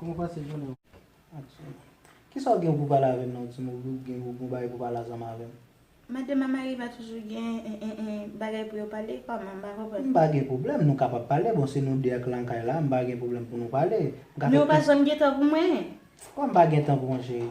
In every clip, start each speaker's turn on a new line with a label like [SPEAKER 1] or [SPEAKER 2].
[SPEAKER 1] Kòman w pase jounen w ak Djima? Kisa w gen pou pale avè m nan Djima ou byen gen yon bagay pou pale ansanm avè m? Madan Mamari
[SPEAKER 2] pa toujou gen bagay pou yo pale? Kòman? M pa konprann. M pa gen pwoblèm,
[SPEAKER 1] nou kapab pale, bon se nou 2 ak lan kay la, m pa gen pwoblèm pou nou pale. Men w pa janm gen
[SPEAKER 2] tan pou mwen? Kòman m pa gen
[SPEAKER 1] tan pou w cheri?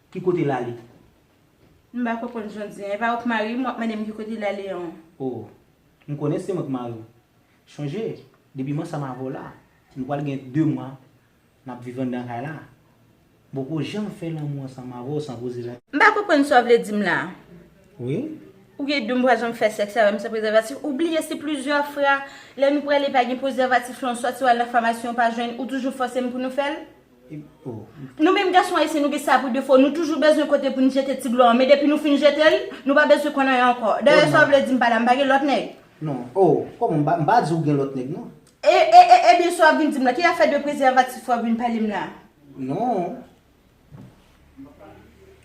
[SPEAKER 1] Ki kote lale?
[SPEAKER 2] M pa konprann sa w di an. E pa ou k mari m, w ap mande m ki kote lale an. O!
[SPEAKER 1] M konnen se mwen k mari w. Chonje, depi m ansanm avè w la, nou pral gen de mwa n ap viv anndan kay la. M poko janm fè lanmou ansanm avè w san koze la. M pa konprann sa w vle
[SPEAKER 2] di m la a. Wi?
[SPEAKER 1] Ou vle di m
[SPEAKER 2] pa janm fè sèks avè m san prezèvatif? Ou bliye se plizyè fra, lè nou prale pa gen prezèvatif lan, sòti w al nan famasi ou pa jwenn, ou toujou fòse m pou nou fè l?
[SPEAKER 1] Nou menm gason
[SPEAKER 2] ayisyen nou gen sa pou defo nou toujou bezwen kote poun jete ti dlo an men depi nou fin jetel nou pa bezwen konn anyen ankò dayè sa w vle dim pa la m pa gen lòt nèg non oo
[SPEAKER 1] kòman m pa m pa di w gen lòt nèg non. E e e ebyen sa
[SPEAKER 2] w ap vin dim la ki afè de prezèvatif w ap vin pale m la. Non.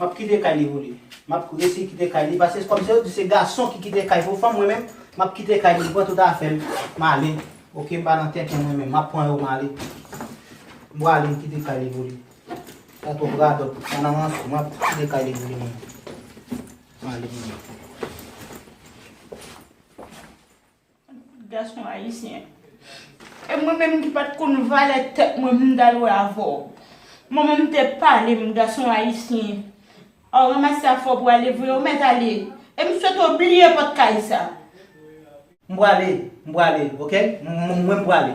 [SPEAKER 1] Map kite kay li pou li. Map resi kite kay li pase kom se yo di se gason ki kite kay pou fanm mwen menm map kite kay li m pran tout afem m ale ok m pa nan tenten mwen menm map pran yo m ale m prale m kite kay li pou li sa twop radot sa nan ranse map kite kay li pou li menm m ale mwen menm.
[SPEAKER 2] Fout gason ayisyen. E mwen menm ki pat konn valè tèt mwen poum tal wè avèw. Mwen menm te palem gason ayisyen. Aw ranmase afèw pou ale vre ou mèt ale. Em swete w bliye pòt kay sa. M
[SPEAKER 1] pwale, m pwale ok, mwen m pwale.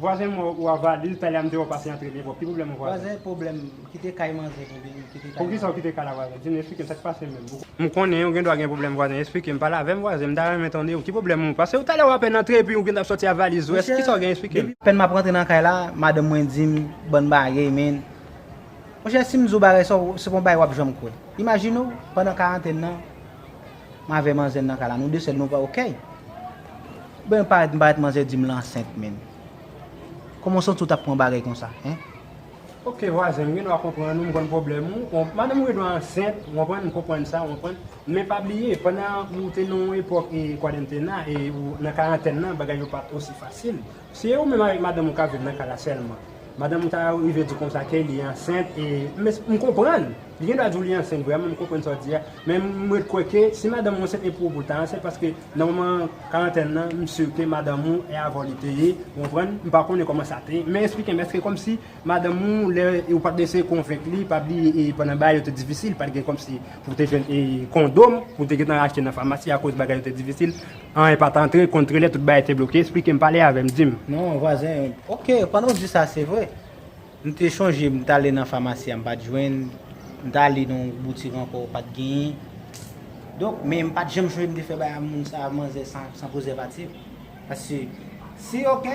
[SPEAKER 3] Vwazen mwen ou a valiz pale a m deyo pase antre depo ki pwoblèm ou vwazen? Vwazen pwoblèm m kite kay manje
[SPEAKER 1] pou vin kite kay manje. Pou kisa
[SPEAKER 3] ou kite kay la vwazen? Di m esplike m sa k pase menm. M konnen ou gen dwa gen pwoblèm vwazen esplike m pale avè m vwazen m ta renmen tande ou ki pwoblèm ou pase ou talè ou apèn antre epi ou gentan ap sòti a valiz ou èske kisa ou gen esplike m. Apèn m ap rantre nan kay la
[SPEAKER 1] madanm mwen di m bann bagey men monchè si m di w bagay sa se pa yon bagay w ap janm kwè imajine w pandan karantèn nan M avè manzè nan kay la nou 2 sèl nou pa ok. Ben parèt m parèt manzè dim l ansent menm. Kòman w santi w tap pran bagay konsa hein. Ok
[SPEAKER 3] vwazen m gen dwa konprann ou m konn pwoblèm ou madanm ou gen dwa ansent ou konprann m konprann sa ou konprann men pa bliye pandan ou te nan yon epòk kwadantenna e ou nan karantèn nan bagay yo pat osi fasil. Se ou menm avèk madanm ou kap viv nan kay la sèlman. Madanm ou ta rive di konsa ke li ansent e m konprann, li gendwa di w li ansent vrèman, m konprann sa w di a, men m ret kwè ke si madanm ou ansent e pou ou pou l ta ansent paske nan moman karantèn nan m sur ke madanm ou e avè w li te ye, ou konprann, m pa konnen kòman sa te ye, men esplike m èske kòmsi madanm ou lè ou pat eseye konvenk li pa bliye e pandan bagay yo te difisil pat gen kòmsi pou w te jwenn e kondom pou w te gentan achte nan famasi akoz bagay yo te difisil. Anyen pat antre, kont trelè tout bagay te bloke, esplike m pale avè m di m. Non vwazen,
[SPEAKER 1] ok pandan w di sa se vre, m te chonje m t ale nan famasi a m pat jwenn, m t ale nan yon boutik ankò pat genyen, donk men m pat janm chonje m te fè bagay a moun sa manzè sa san prezèvatif, paske si ok,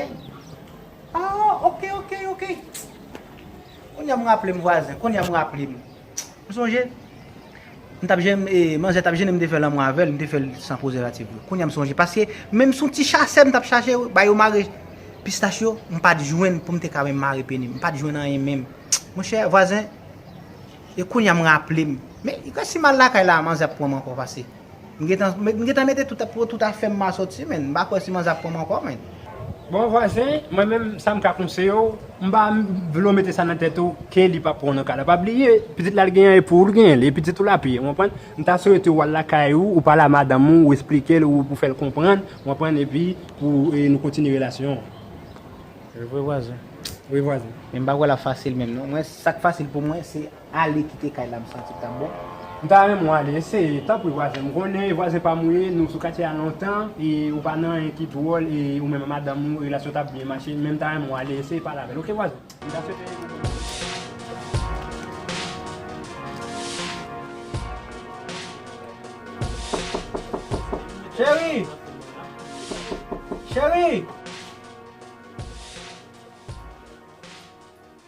[SPEAKER 1] ah ok ok ok, kounye a m raple m vwazen, kounye a m raple m. Ou sonje m tap jen e manzè tap jenem te fè lanmou avèl m te fèl san prezèvatif vre kounya m sonje paske menm son ti chasè m tap chache ba yo mare pistach yo m pat jwenn poum te ka menm mare penim m pat jwenn anyen menm monchè vwazen e kounya m raplem men resi mal lakay la manzè ap pranm ankò pase. M gentan m gentan mete tout pou tout afèm ma soti menn m pa kwè si manzè ap pranm ankò menn. Bon vwazen
[SPEAKER 3] mwen menm sam ka konseyew m pa vle w mete sa nan tèt ou ke li pap pran w nan kay la pa bliye pitit la li gen an e pou ou li gen li e pitit ou la pi ou konprann m ta swete wal lakay ou ou pale a madanm ou ou esplikel ou pou fèl konprann ou konprann epi pou nou kontinye relasyon an.
[SPEAKER 1] Evre vwazen. Wi vwazen.
[SPEAKER 3] Men m pa kwè lap fasil
[SPEAKER 1] menm non mwen sak fasil pou mwen se. Ale kite kay la m santi l tap bon. M ta renmen w ale
[SPEAKER 3] eseye tanpri vwazen m konnen vwazen pam ou ye nou sou katye a lontan e ou pa nan anyen ki dwòl e ou menm a madanm ou relasyon tap byen mache men m ta renmen w ale eseye pale avèl ok vwazen m ta swete yon bon bagay.
[SPEAKER 1] Cheri! Cheri!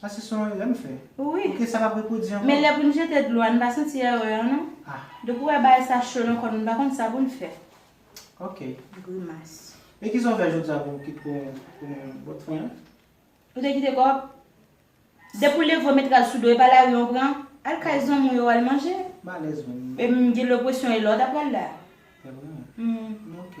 [SPEAKER 1] Sa se son erè m fè? Wi. Ok sa pap repwodi
[SPEAKER 2] ankò?
[SPEAKER 1] Men lè pou n jete dlo
[SPEAKER 2] a n pa santi erè an non. Ah. Depi w wè bagay sa cho nan kò n, n pa konn sa pou n fè. Ok.
[SPEAKER 1] Grimas.
[SPEAKER 2] Men kisa w fè jodi
[SPEAKER 1] a pou w kit pou yon bòt fè an? Ou te kite
[SPEAKER 2] kòb? Depi w leve w met rad sou do e pa lari an w pran? Al kay zanmi w yo al manje. M alèz menm.
[SPEAKER 1] E m gen
[SPEAKER 2] lopwesyon e lè w ta pral la? Evre?
[SPEAKER 1] Humm. Ok.